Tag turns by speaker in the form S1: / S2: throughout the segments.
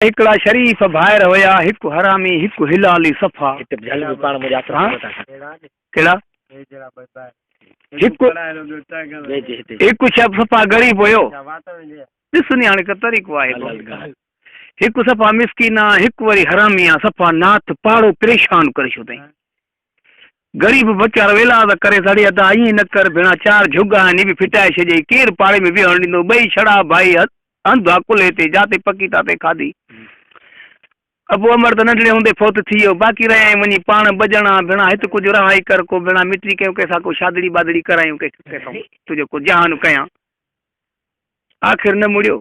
S1: هڪڙا شريف ڀائر هيا. هڪ حرامي هڪ هلالي صفا. ڪهڙا؟ هڪ شب صفا غريب هيو. ڏس ني هاڻي ڪا طريقو آهي ڪو. هڪ صفا مسڪين آ هڪ وري حرامي آ صفا ناٿ پاڙو پريشان ڪري ڇڏتئين. غريب ويچارو ويلاز ڪري سڙي ادا ائين نه ڪر ڀيڻا چار جهڳ آهن هي به ڦٽائي ڇڏيئي ڪير پاڙي ۾ ويهڻ ڏيندو ٻئي ڇڙا ڀائي هنڌ آ ڪلهي تي جاتي پڪي تاتي کاڌي ابو امڙ ته ننڍڙي هوندي فوت ٿي ويو باقي رهيائين وڃي پاڻ ٻه ڄڻا ڀيڻا هت ڪجهه رهائي ڪر ڪو ڀيڻا مٽي ڪيو ڪنهن سان ڪو شادڙي ٻادڙي ڪرايون ڪنهن سان تنهنجو ڪو جهان ڪيان آخر نه مڙيو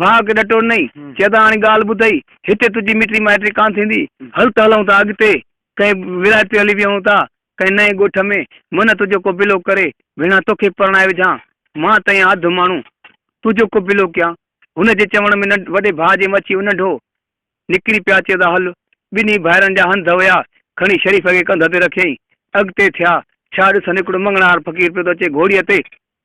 S1: ڀاء کي ڏٽو نئي، چئه ته هاڻي ڳالهه ٻڌئي، هتي تنهنجي مٽي مائٽي ڪانه ٿيندي، هل ته هلئون ٿا اڳتي، ڪنهن ولايت تي هلي ويهون ٿا، ڪنهن نئين ڳوٺ ۾، منه تنهنجو ڪو بلو ڪري، ڀيڻا توکي پرڻائي وجهان، مان ته ايان اڌ ماڻهو، تنهنجو ڪو بلو ڪيان، هن جي چوڻ ۾ ننڍ وڏي ڀاء جي مڇي انڍو نڪري پيا چئه ته هل، ٻنهي ڀائرن جا هنڌ هيا، کڻي شريف کي ڪنڌ تي رکيائين، اڳتي ٿيا، ڇا ڏسن هڪڙو مڱڻهار فقير پيو ٿو اچي گهوڙيء تي،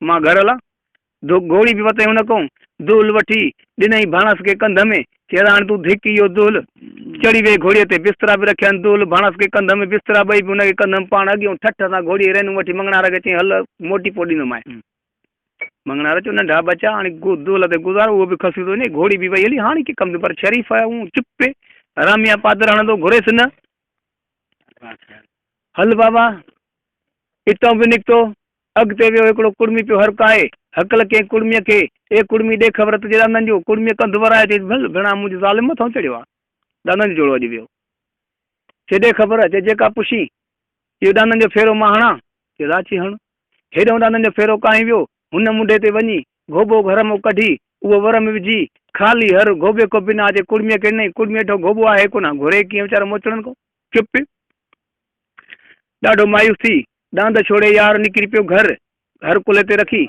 S1: مان گهر هلان ڌڪ گهوڙي به وتين هن ڪئون دهل وٺي ڏنئي ڀاڻس کي ڪنڌ ۾ چيس هاڻ تون ڌڪ اهو دهل چڙهي ويهه گهوڙي تي بسترا به رکيا آهن دهل ڀاڻس کي ڪنڌ ۾ بسترا ٻئي به هن کي ڪنڌ ۾ پاڻ اڳيئون ٺٺ سان گهوڙي رينون وٺي مڱڻهار کي چيائين هل موٽي پوء ڏيندومانء مڱڻهار چيو ننڍا ٻچا هاڻي دهل تي گذارو اهو به کسي ٿو وڃي گهوڙي به وئي هلي هاڻي ڪي ڪم ٿيو پر شريف آهي هو چپ پئي راميان پادر هڻندو گهريس نه هل بابا اتئون به نڪتو اڳتي ويو هڪڙو ڪڙمي پيو هرکائي. هڪل ڪنهن ڪڙميء کي، اي ڪڙمي ڏي خبر تنهنجي ڏاندن جو. ڪڙميء ڪنڌ ورائي چيس، ڀل ڀيڻا منهنجي ظالم مٿان چڙهيو آ. ڏاندن جو جوڙو اڄ ويو. چي ڏي خبر، چي جيڪا پڇين. اهو ڏاندن جو ڦيرو مان هڻان؟ چيس ها چي هڻ. هيڏهون ڏاندن جو ڦيرو ڪاهين ويو. هن منڍي تي وڃي گهوٻو گهر مان ڪڍي، اهو ور ۾ وجهي، خالي هر گهوٻي کان بنا چي ڪڙميء کي ڏنائين. ڪڙمي هيٺون گهوٻو آهي ڪونه، گهري ڪيئن ويچارو موچڙن کان چپ پيو. ڏاڍو مايوس ٿي، ڏاند ڇوڙي يار نڪري پيو گهر گهر ڪلهي تي رکي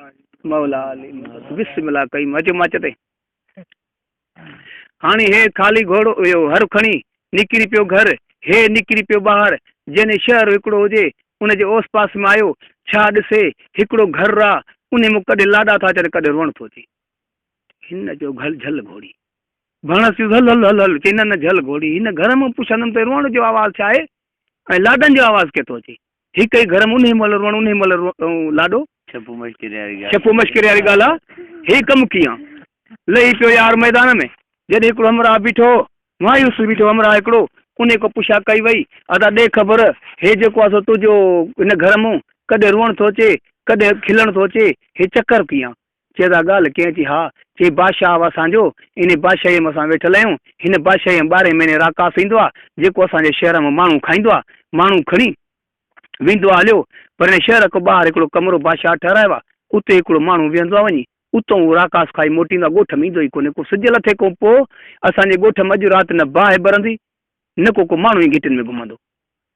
S1: مولا علي مدد بسم الله ڪئي مچ مچ تي هاڻي هي خالي گهوڙو اهو هر کڻي نڪري پيو گهر هي نڪري پيو ٻاهر جنهن شهر هڪڙو هجي ان جي اوس پاس ۾ آيو ڇا ڏسي هڪڙو گهر را انهي مان ڪڏهن لاڏا ٿا اچن ڪڏهن روئڻ ٿو اچي هن چيو گهل جهل گهوڙي ڀڻس چيس هل هل هل هل چئي نه نه جهل گهوڙي هن گهر مان پڇندم ته روئڻ جو آواز ڇا آهي ۽ لاڏن جو آواز ڪٿو اچي. هڪ ئي گهر م انهي مهل روئڻ انهي مهل روئڻ لاڏو. ڇپو مشڪري واري ڳالهه. ڇپو مشڪري واري ڳالهه آ. هي ڪم ڪيئن لهي پيو يار ميدان ۾. جڏهن هڪڙو همراهه بيٺو هو. مايوس بيٺو همراهه هڪڙو. انهي کان پڇا ڪئي وئي. ادا ڏي خبر هي جيڪو آ سو تنهنجو هن گهر م ڪڏهن روئڻ ٿو اچي ڪڏهن کلڻ ٿو اچي. هي چڪر ڪيئن چي ادا ڳالهه ڪئين ٿي؟ ها، چي بادشاهه آهو اسان جو، انهي بادشاهيء ۾ اسان ويٺل آهيون، هن بادشاهيء ۾ ٻارهين مهيني راڪاس ايندو آهي، جيڪو اسان جي شهر مان ماڻهو کائيندو آهي، ماڻهو کڻي ويندو آهي، هليو، پر هن شهر کان ٻاهر هڪڙو ڪمرو بادشاهه ٺهرايو آهي، اتي هڪڙو ماڻهو ويهندو آهي، وڃي اتان هو راڪاس کائي موٽيندو آهي، ڳوٺ ۾ ايندو ئي ڪونهي، ڪو سج لٿي کان پوء اسان جي ڳوٺ ۾ اڄ رات نه باهه ٻرندي، نه ڪو ڪو ماڻهو ئي گهٽين ۾ گهمندو.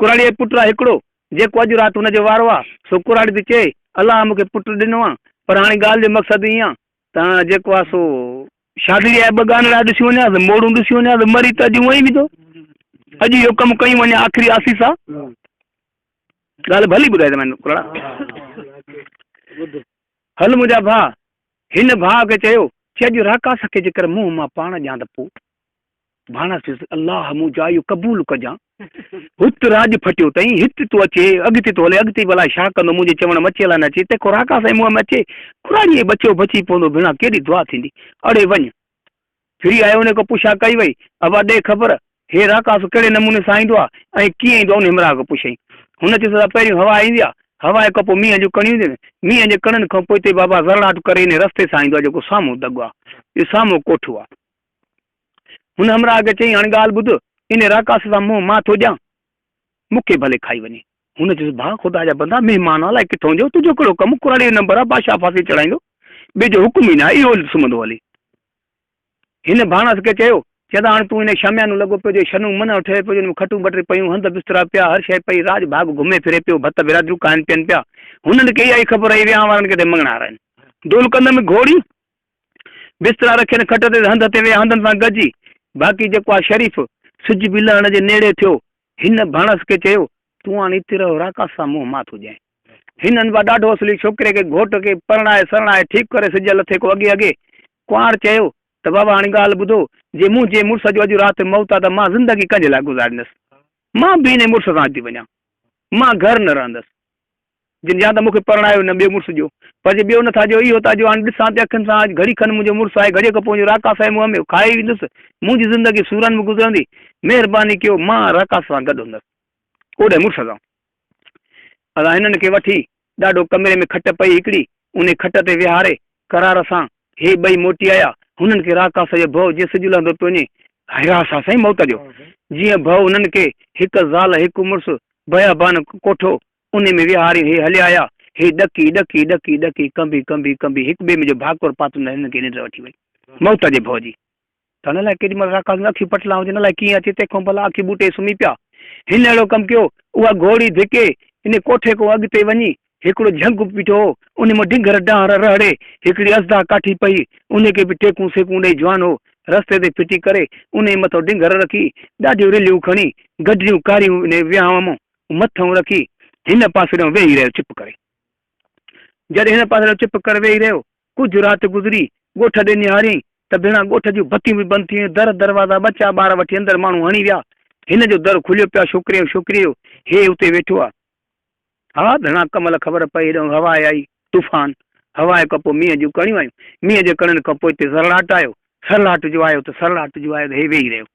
S1: ڪراڙيء جو پٽ آ هڪڙو، جيڪو اڄ رات ان جو وارو آ، سو ڪراڙي ٿي چئي، الله مون کي پٽ ڏنو آ، پر هاڻي ڳالهه جو مقصد ائين آ ته هاڻ جيڪو آ سو. شاگڙيء جا ٻه ڳانڙها ڏسيون وڃان ته موڙون ڏسيون وڃان ته مري ته اڄ هونئن ئي ويندو. اڄ اهو ڪم ڪيون وڃان، آخري آسيس آ. ڳالهه ڀلي ٻڌاء ته مئن ڪراڙا! ٻڌ. هل منهنجا ڀاء! هن ڀاء کي چيو، چي اڄ راڪاس کي جيڪر منهن مان پاڻ ڏيان ته پوء. ڀاڻا سيس الله مون جا اهو قبول ڪجان هت راڄ ڦٽيو تئين هت ٿو اچي اڳتي ٿو هلي اڳتي به الائي ڇا ڪندو منهنجي چوڻ م اچي الائي نه اچي تنهن کان راڪا سائين منهن م اچي کراڙي ۽ ٻچو بچي پوندو ڀيڻا ڪيڏي دعا ٿيندي اڙي وڃ ڦري آيو انهي کان پڇا ڪئي وئي ابا ڏي خبر هي راڪاس ڪهڙي نموني سان ايندو آ ۽ ڪيئن ايندو آ انهي همراهه کان پڇيائين هن چيس ته پهريون هوا ايندي آ هوا کان پوء مينهن جون ڪڻيون اينديون آهن مينهن جي ڪڻين کان پوءتي بابا زرڙاٽ ڪري انهي رستي سان ايندو آ جيڪو سامهون دڳ آ اهو سامهون ڪوٺو آ هن همراهه کي چيائين، هاڻي ڳالهه ٻڌ، ان راڪاس سان منهن مان ٿو ڏيان، مون کي ڀلي کائي وڃي. هن چيس، ڀاء خدا جا بندا، مهمان الائي ڪٿ هونديو، تنهنجو ڪهڙو ڪم، ڪراڙي جو نمبر آ، بادشاهه ڦاسي چڙهائيندو، ٻئي جو حڪم ئي ناهي، اهو سمهندو هلي. هن ڀاڻس کي چيو، چيائين ته هاڻي تون انهيء شاميانو لڳو پيو جو شنو منهن ٺهيو پيو، جنهن ۾ کٽون بٽري پيون، هنڌ بسترا پيا، هر شيء پئي، راڄ ڀاڳ گهمي ڦري پيو، ڀت برادريون کائن پيئن پيا، هنن کي اها ئي خبر آهي، ويهان وارن کي ته مڱڻهار آهن. دولڪندم گهوڙي بسترا رکي ان کٽ تي هنڌ تي ويا هنڌن سان گڏجي. باقي جيڪو آ شريف سج به لهڻ جي نيڙي ٿيو. هن ڀاڻس کي چيو، تون هاڻ اتي رهه راڪاس سان منهن مان ٿو ڄائين. هن انبا ڏاڍو اصلي ڇوڪري کي گهوٽ کي پرڻائي سرڻائي ٺيڪ ڪري سج لٿي ڪو اڳي اڳي. ڪنوار چيو ته بابا هاڻي ڳالهه ٻڌو جي منهنجي مڙس جو اڄ رات موت آ ته مان زندگي ڪنهنجي لاء گذاريندس. مان به انهي مڙس سان ٿي وڃان. مان گهر نه رهندس. جن يا ته مون کي پرڻايو نه ٻئي مڙس جو. پر جي ٻيو نه ٿا جو اهو ٿا جو هاڻي ڏسان ٿي اکين سان اڄ گهڙي کن منهنجو مڙس آهي گهڙيء کان پوء جو راڪاس آهي مون هميو کائي ويندس منهنجي زندگي سورن ۾ گذرندي مهرباني ڪيو مان راڪاس سان گڏ هوندس اوڏهن مڙس سان اسان هنن کي وٺي ڏاڍو ڪمري ۾ کٽ پئي هڪڙي انهي کٽ تي ويهاري قرار سان هي ٻئي موٽي آيا هنن کي راڪاس جو ڀؤ جيئن سج لهندو پيو وڃي هيا سا سائين موت جو جيئن ڀؤ هنن کي هڪ زال هڪ مڙس بيابان ڪوٺو انهي ۾ وهاري هي هليا آيا. هي ڏڪي ڏڪي ڏڪي ڏڪي ڪنبي ڪنبي ڪنبي هڪ ٻئي ۾ جو ڀاڪر پاتم نه هنن کي ننڊ وٺي وئي. موت جي ڀؤ جي ته نه الاء ڪيڏي مهل راڪاس ۾ اکيون پٽلان هجن الاء ڪيئن اچي تنهن کان ڀلا اکيون ٻوٽي سمهي پيا. هن اهڙو ڪم ڪيو. اها گهوڙي ڌڪي انهي ڪوٺي کان اڳتي وڃي هڪڙو جهنگ به بيٺو هو. انهي مان ڊنگر ڊانهر رهڙي هڪڙي اسدا ڪاٺي پئي. انهي کي به ٽيڪون سيڪون ڏئي جوان هو. رستي تي ڦٽي ڪري انهي مٿو ڊنگر رکي ڏاڍيون رلهيون کڻي گڊريون ڪاريون انهي ويهانء مان مٿو رکي هن پاسي ڏانهن ويهي رهيو چپ ڪري. جڏهن هن پاسي ڏانهن چپ ڪري ويهي رهيو، ڪجهه رات گذري، ڳوٺ ڏي نهاريائين ته ڀيڻا ڳوٺ جون بتيون به بند ٿي ويون، در دروازا ٻچا ٻار وٺي اندر ماڻهو هڻي ويا، هن جو در کليو پيو آ ڇوڪري ۽ ڇوڪريء جو، هي اتي ويٺو آ. ها ڀيڻا ڪمل خبر پئي هيڏانهن هوا آئي، طوفان، هوا کان پوء مينهن جون ڪڻيون آيون، مينهن جي ڪڻين کان پوء اتي سرڙاٽ آيو، سرڙاٽ جو آيو ته سرڙاٽ جو آيو ته هي ويهي رهيو.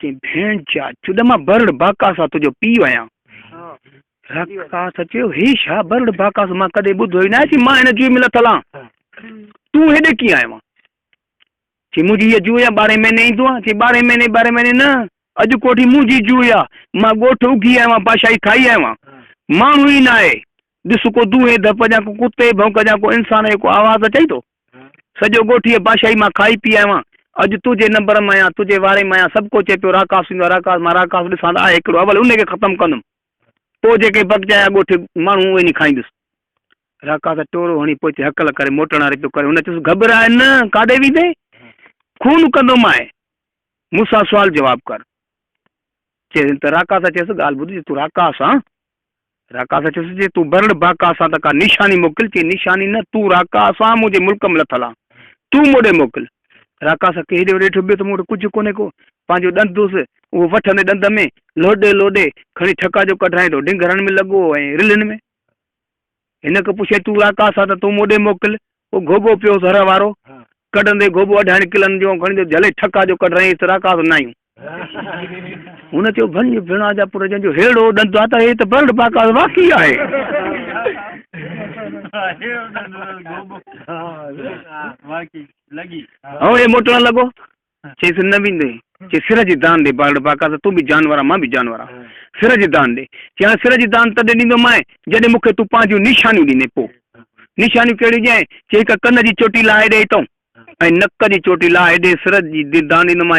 S1: چيائين، ڀيڻ جا چڏ مان برڙ باڪاسا تنهنجو پيء آهيان. راڪاسا چيو، هي ڇا برڙ باڪاسو مان ڪڏهن ٻڌو ئي ناهي چي مان هن جوئي ۾ لٿل آهان. تون هيڏي ڪيئن آيو آهين؟ چي منهنجي هيء جوئي آهي ٻارهين مهيني ايندو آهان. چي ٻارهين مهيني ٻارهين مهيني نه اڄ ڪوٺي منهنجي جوئي آهي. مان ڳوٺ اگهي آيو آهيان بادشاهي کائي آيو آهيان. ماڻهو ئي ناهي. ڏس ڪو دونهين ڌپ جا ڪو ڪتي جي ڀونڪ جا ڪو انسان جو ڪو آواز اچئي ٿو. سڄو ڳوٺ ايء باشاهي مان کائي پي آيو آهيان. اڄ تنهنجي نمبر م آهيان، تنهنجي واري م آهيان، سڀ ڪو چئي پيو راڪاس ايندو آهي، راڪاس مان راڪاس ڏسان ته آهي هڪڙو، اول ان کي ختم ڪندم، پوء جيڪي بگچايا ڳوٺ ماڻهو اهي ني کائيندس. راڪاس ٽورو هڻي پوء اتي هڪل ڪري موٽڻ واري پيو ڪري. هن چيس، گهٻراء نه، ڪاڏي ويندين؟ خون ڪندومانء، مون سان سوال جواب ڪر. چيس، هن ته راڪاس چيس، ڳالهه ٻڌ، جي تون راڪاس آن، راڪاس چيس، جي تون برڙ باڪاس آن ته ڪا نيشاني موڪل. چيائين، نيشاني نه، تون راڪاس آن، مون جي ملڪ ۾ لٿل آن، تون مون ڏي موڪل. راڪاس کي هيڏي هوڏي ڏٺو پيو ته مون وٽ ڪجهه ڪونهي ڪو، پنهنجو ڏند هوس، اهو وٺندي ڏند ۾ لوڏي لوڏي کڻي ٺڪا جو ڪڍرائين ٿو ڊنگهرن ۾ لڳو هو ۽ رلهن ۾. هن کي پڇيائين، تون راڪاس آن ته تون مون ڏي موڪل، او گهوٻو پيو ذره وارو، ڪڍندي گهوٻو اڍائڻ ڪلن جون کڻي جو جهلي ٺڪا جو ڪڍ رئيس راڪاس نايون. هن چيو ڀڃ ڀڻا جا پٽ جنهن جو ههڙو ڏند آ ته هي ته برڙ باڪاس واقعي آهي. هو هي موٽڻ لڳو چيس نه ويندين. چيس سر جي دان ڏي بارڙ باقا ته تون به جانور آهين مان به جانور آهيان سر جي دان ڏي. چيس هاڻ سر جي دان تڏهن ڏيندومانء جڏهن مون کي تون پنهنجيون نشانيون ڏيندين پوء نشانيون ڪهڙيون ڏيانء؟ چيس هڪ ڪن جي چوٽي لاهي ڏي اتئون ۽ نڪ جي چوٽي لاهي ڏي سر جي دان ڏيندومانء.